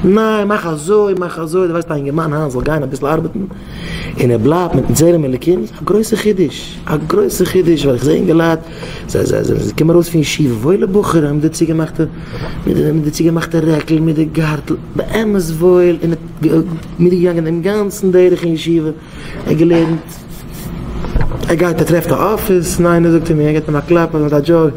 ניין, מאך אזוי, מאך אזוי, דו ווייסט א אינגערמאן היינט זאל גיין אביסל ארבעטן, און ער בלייבט מיטן צלם אלוקים, איז א גרויסע חידוש, א גרויסע חידוש, ווייל איך זע אינגעלייט, זיי, זיי, זיי, זיי קומען ארויס פון ישיבה, וואוילע בחורים, מיט די צוגעמאכטע, מיט די צוגעמאכטע רעקל, מיט די גארטל, באמת וואויל, און ער איז מיטגעגאנגען דעם גאנצן דרך אין ישיבה. ער האט געלערנט, ער גייט ער טרעפט א אפיס, ניין ער זאגט צו מיר, ער געבט אים א קלאפ אז מיט א דזשאוק,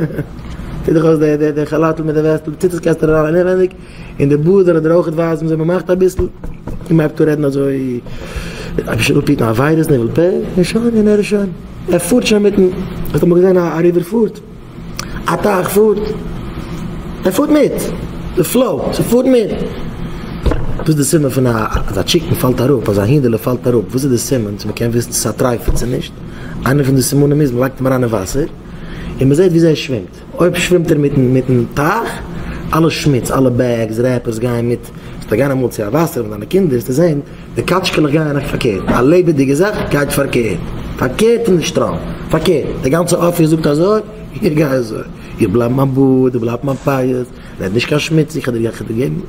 טוט דיך אויס די די כאלאטל מיט די וועסטל, ציט עס קעסטער אריין אינעווייניג, און די בארד זענען דיר אויכעט ווייז מיר זיי מ'מאכט אביסל, און מ'הייבט אן רעדן אזוי, אויב שוין אפהיטן א וויירוס נעוועל פ, און שוין, און ער איז שוין, ער פארט שוין מיטן, האסט אמאל געזען א ריווער פארט? א טייך פארט, ער פארט מיט די פלאו, ס'פארט מיט. וואס איז די סימן פון א אז א טשיקן פאלט אראפ, אז א הינדעלע פאלט אראפ, וואס איז די סימן צו מ'קען וויסן צו ס'איז א טרייפער צו נישט? איינע פון די סימנים איז מ'לייגט אים אריין אין וואסער און מ'זעט וויאזוי ער שווימט, אויב שווימט ער מיטן מיטן טייך, אלע שמוץ, אלע בעגס, רעפערס גייען מיט, וועסטו גיין אמאל צו א וואסער מיט דיינע קינדער וועסטו זען די קאַטשקעלעך גייען אויך פֿאַרקערט. אַ לעבעדיקע זאַך גייט פֿאַרקערט. פֿאַרקערט אין דער שטראָם. פֿאַרקערט. דער גאַנצער אָפּיס זאָגט אַזוי, איך גיי אַזוי. איך בלײַב מײַן באָרד, איך בלײַב מײַן פּאות. רעד נישט קיין שמוץ. איך רעד קיין געגנט.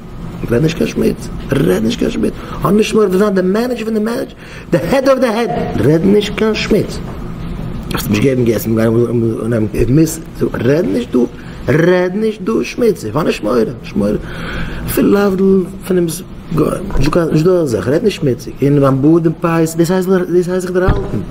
רעד נישט קיין שמוץ. רעד נישט קיין שמוץ. האָב נישט מורא פֿון זײַן דער מענעדזשער פֿון די מענעדזשער, די העד אָוו די העד. רעד נישט קיין שמוץ. וועסט נישט געבן געסן. רעד נישט דו. רעד נישט דא שמוציג, איך האב נישט מורא, נישט מורא, אפילו להבדיל פון דעם גוי, נישט דא אזעלכע, רעד נישט שמוציג, און מיין בארד און פאות, דאס הייסט זיך דערהאלטן.